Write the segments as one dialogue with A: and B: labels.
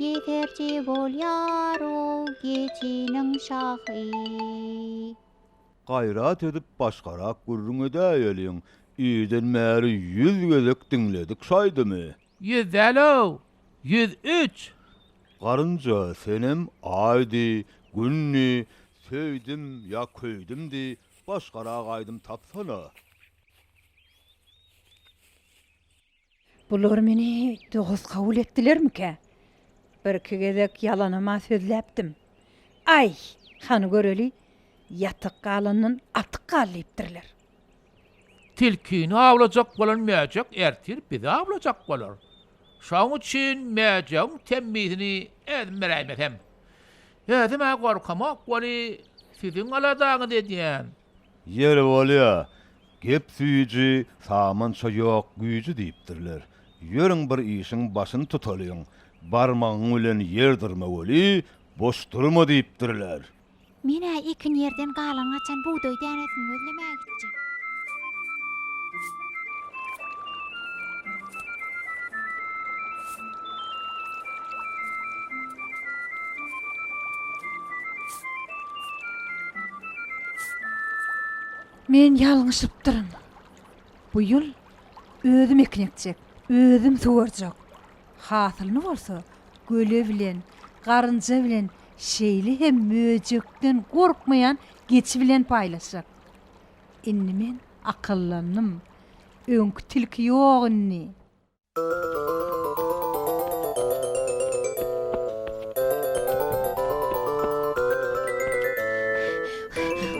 A: Ýeterje bolýar ol geçiniň şahy. Gaýrat edip başgarak gürrüň edäýeliň. Irden bäri ýüz gezek diňledik şaýdymy. Ýüz däl-ow, ýüz üç! Garynja, senem Aýdy, Günni, Söýdüm ýa Köýdüm diý, başgarak aýdym tapsana. Bular meni dost kabul etdilermikä? Birki gezek ýalanam-a sözläpdim. Aý, hany göreli, ýatyk galandan atyk gal diýipdirler. Tilkini awlajak bolan mäjek ertir bizi awlajak bolar. Şoň üçin mäjegiň temmisini özüm beräýmesem. Özüm-ä gorkamok weli, siziň aladaňyzy edýän. Ýeri bolýa, gep süýji, samança ýok güýji diýipdirler. Ýörüň bir işiň başyny tutalyň. Barmagyň bilen ýer dyrma weli, boş durma diýipdirler. Men-ä ekin ýerden galan gaçan bugdaý dänesini gözlemäge gitjek. Men ýalňyşypdyryn. Bu ýyl özüm ekin ekjek, özüm suwarjak. Hasylyny bolsa göle bilen, garynja bilen, şeýle hem möjekden gorkmaýan geçi bilen paýlaşjak. Indi men akyllandym. Öňki tilki ýok indi.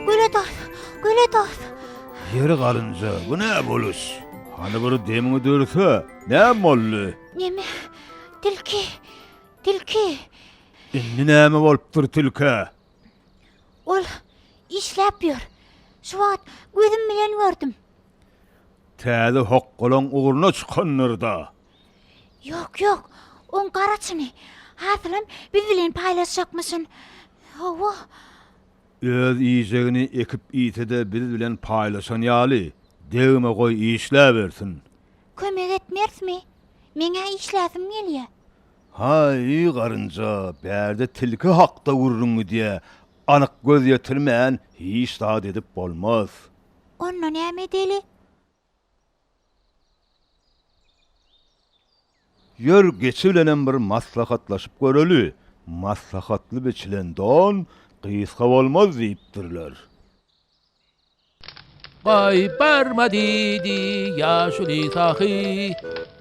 A: Güle dos, güle dos. Ýeri galynja, bu nä boluş? Hany bir demiňi dörse, näme boldy? Neme? Tilki! Tilki! Indi näme bolupdyr tilkä? Ol işläp ýör. Şu wagt gözüm bilen gördüm. Täze hokgalaň ugruna çykandyr-da? Ýok, ýok. Oň garaçyny, hasylam biz bilen paýlaşjakmyşyn. Hawa. Öz iýjegini ekip iýse-de biz bilen paýlaşan ýaly, degme goý işläbersin. Kömek etmersmi? Meň-ä işläsim gelýä. Haý, garynja, bärde tilki hakda gürrüň gidýä, anyk göz ýetirmän hiç zat edip bolmaz. Onda näme edeli? Ýör, geçi bilenem bir maslahatlaşyp göreli. Maslahatly biçilen don gysga bolmaz diýipdirler. Gaýyp barma diýdi ýaşuly sahy.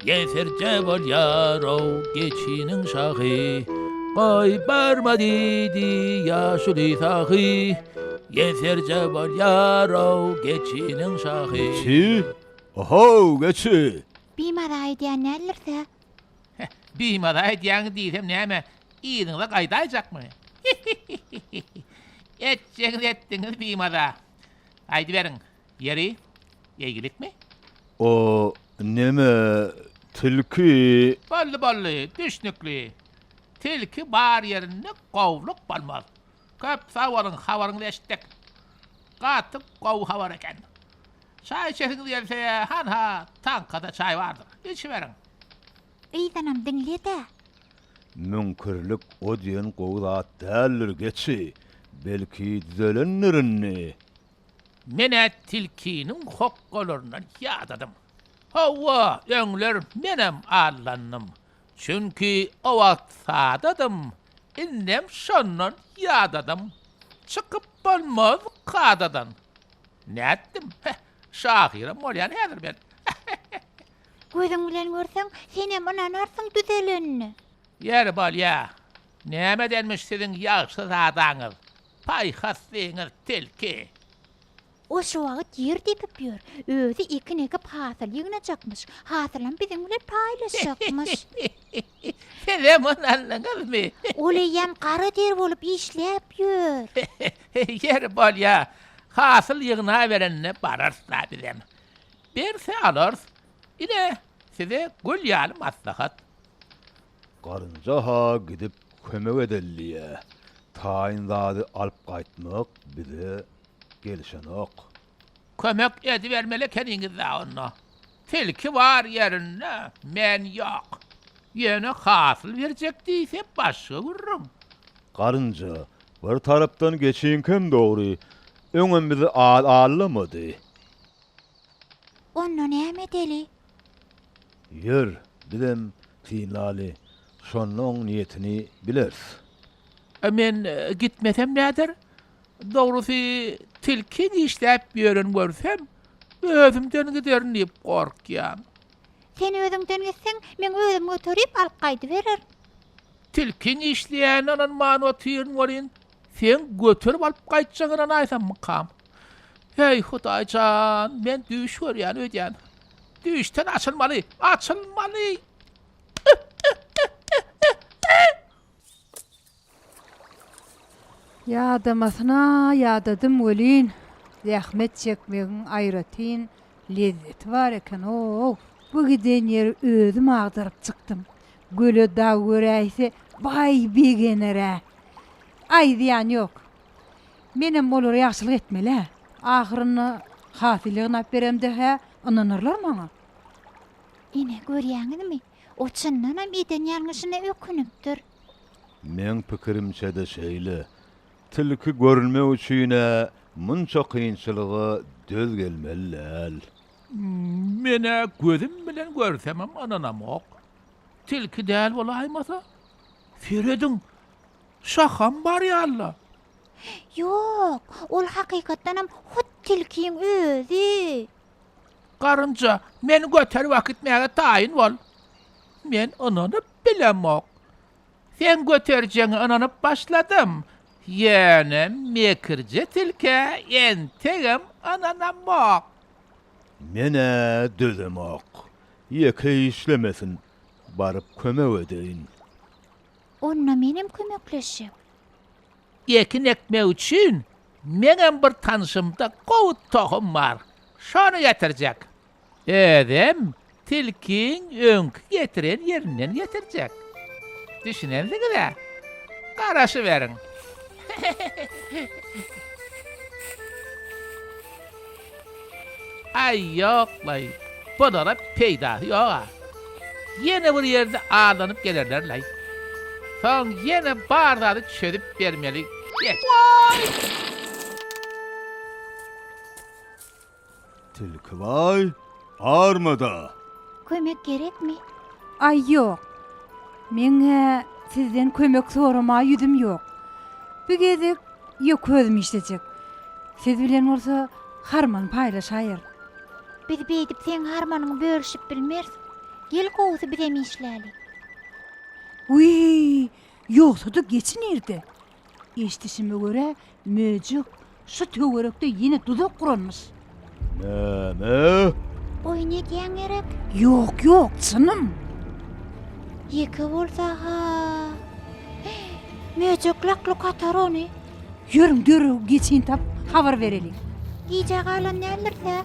A: Geferje bolýar-ow geçiniň şahy, Goý, barma diýdi ýaşuly sahy, Geferje bolýar-ow geçiniň şahy. Geçi, O-how, geçi! Bimaza edýän däldiris-ä? Heh, bimaza edýäňiz diýsem näme, yzyňyza gaýdaýjakmy? Hi-hi-hi-hi-hi! Etjegiňizi etdiňiz bimaza. Gaýdyberiň. Ýeri, eýgilikmi? O neme, tilki? Boldy, boldy, düşnükli. Tilki bar ýerinde gowluk bolmaz. Köp sag boluň, habaryňyzy eşitdik. Gaty gowy habar eken. Çaý içesiňiz gelse, hanha, taňkada çaý bardyr, içiberiň. Yzanam diňle-dä. Müňkürlik o diýen gowy zat däldir, geçi. Belki düzelendir indi. Men-ä tilkiniň hokgalaryndan ýadadym. Hawa, öňler menem allandym. Çünki o wagt sadadym, indem şondan ýadadym. Çykyp bolmaz kadadan. Nätdim, heh, şahyram bolýan häzir men. Gözüň bilen görseň, senem ynanarsyň düzelenine. Ýeri bolýa. Nämedenmiş siziň ýagşyzadaňyz? Paýhas siňir tilki. O şu wagt ýer depip ýör. Özi ekin ekip hasyl ýygnajakmyş. Hasylam biziň bilen paýlaşjakmyş. Sizem ony aldyňyzmy? Ol eýýäm gara der bolup işläp ýör. Ýeri bolýa, hasyl ýygnaberende bararys-la bizem. Berse alarys. Ine, size gül ýaly maslahat. Garynja-ha gidip kömek edeliýä. Taýyn zady alyp gaýtmak bize gelişenok. Kömek edibermeli ekeniňiz-dä onda. Tilki bar ýerinde, men ýok. Ýöne hasyl berjek diýse başga gürrüň. Garynja, bir tarapdan geçiňkem dogry, öňem bizi al allamady. Onda näme edeli? Ýör, bizem synlaly, şonda oň niýetini bileris. A men gitmesem näder? Dogrusy, tilki dişläp ýören görsem, özümden giderin diýip gorkýan. Sen özüňden gitseň, men özüm göterip alyp gaýdybererin. Tilkiň işleýänine ynanman otyryn welin, seň göterip alyp gaýtjagyňa ynanaýsammy, Kam? Heý, Hudaý jan, men düýş görýän öýdýän. Düýşden açylmaly, açylmaly! Ýadamasyna ýadadym welin, zähmet çekmegiň aýratyn lezzeti bar eken-ow! Bu giden ýeri özüm agdaryp çykdym. Göle dag göräýse, baý begener-ä! Aýdýan ýok, Menem olara ýagşylyk etmeli-ä. Ahyrynda hasyl ýygnap beremde-hä ynanarlar maňa. Ine, görýäňizmi, o çyndanam eden ýalňyşyna ökünipdir. Meň pikirimçe-de şeýle. Tilki görünmek üçin-ä munça kynçylyga döz gelmeli däl. Men-ä gözüm bilen görsemem ynanamok. Tilki däl bolaýmasa, serediň, Şaham bar ýaly-la. Ýok, ol hakykatdanam hut tilkiň özi. Garynja, meni göterip akitmäge taýyn bol. Men ynanyp bilemok. Sen göterjegiňe ynanyp başladym. Ýöne mekirje tilkä entegem ynanamok. Men-ä dözemok. Ýeke işlemesin, baryp kömek edeýin. Onda menem kömekleşjek. Ekin ekmek üçin meňem bir tanşymda gowy tohum bar. Şony getirjek. Özem tilkiň öňki getiren ýerinden getirjek. Düşünensiňiz-ä? Garaşyberiň. Aý, ýok-laý, bunara peýdasy ýog-a. Ýene bir ýerde aldanyp gelerler-laý. Soň ýene bar zady çözüp bermeli, geç. Waý! Tilki baý, Barmada. Kömek gerekmi? Aý ýok. Meň-ä sizden kömek soramaga ýüzüm ýok. Bu gezek ýöke özüm işlejek. Siz bilen bolsa harman paýlaşaýarys. Biz beýdip seň harmanyňy bölüşip bilmeris. Gel gowusy bizem işläli. Wiý, ýogsa-da geçi nirde? Eşdişime görä, möjek şu töwerekde ýene duzak guranmyş. Näme? Oýun edýäň gerek? Ýok, ýok, çynym. Ýeke bolsa-ha. Möjek lak-luk atar ony. Ýörüň, dörew geçin tap, habar bereliň. Gijä galan däldir-dä?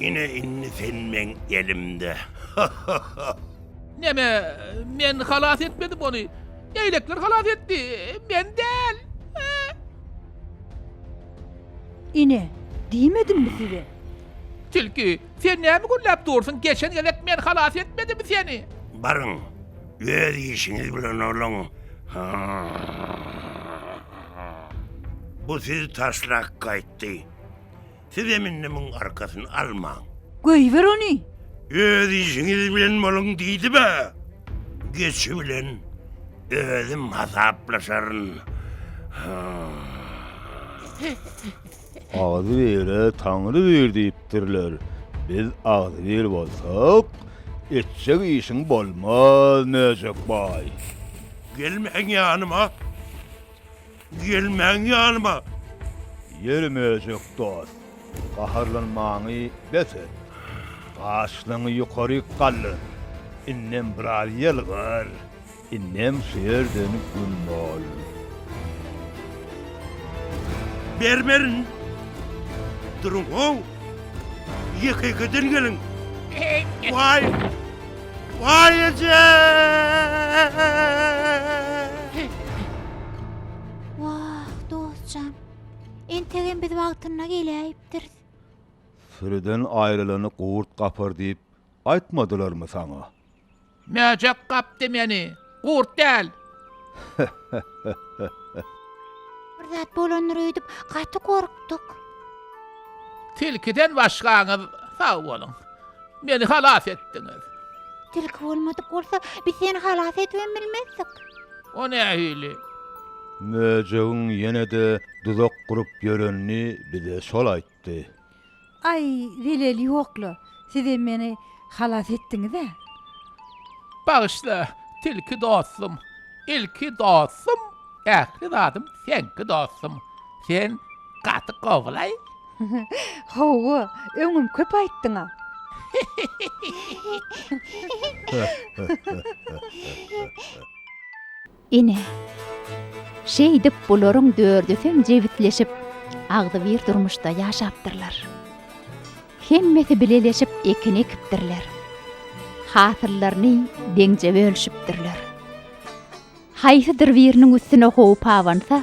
A: Ine indi sen meň elimde. Neme, men halas etmedim ony. Leýlekler halas etdi, men däl. Ine, diýmedimmi size? Tilki, sen näme gürläp dursuň? Geçen gezek men halas etmedimmi seni? Baryň, öz işiňiz bilen oluň. Bu siz taşlak gaýtdy. Siz hem indi muň arkasyny almaň. Goýber ony! Öz işiňiz bilen boluň diýdiba. Geçi bilen özüm hasaplaşaryn. Agzybire Taňry bir diýipdirler. Biz agzybir bolsak, etjek işiň bolmaz, Möjek baý. Gelmäň ýanyma! Gelmäň ýanyma! Ýeri möjek dost, gaharlanmaňy bes et. Gaşlaňy ýokaryk galdyr. Indem biraz ýylgyr. Indem şu ýerden güm bol. Bermerin! Duruň-how! Ýeke-ýekeden geliň! Waý! Waý eje! Wah, dostjan. Entegem biz wagtynda geläýipdiris. Sürüden aýrylany gurt gapar diýip aýtmadylarmy saňa? Mäjek gapdy meni. Gurt däl. Bir zat bolandyr öýdüp gaty gorkduk. Tilkiden başgaňyz sag boluň. Meni halas etdiňiz. Tilki bolmadyk bolsa, biz seni halas edibem bilmezdik. O nähili? Möjegiň ýene-de duzak gurup ýörenini bize şol aýt. tutdy. Aý, zelel ýok-la, sizem meni halas etdiňiz-ä. Bagyşla, tilki dostum, ilki dostum, ähli zadym seňki dostum. Sen gaty gowy-laý. Hawa, öňem köp aýtdyň-a. Ine, şeýdip bularyň dördüsem jebisleşip, agzybir durmuşda ýaşapdyrlar. Hemmesi bileleşip ekin ekipdirler. Hasyllaryny deňje bölüşipdirler. Haýsydyr biriniň üstüne howp abansa,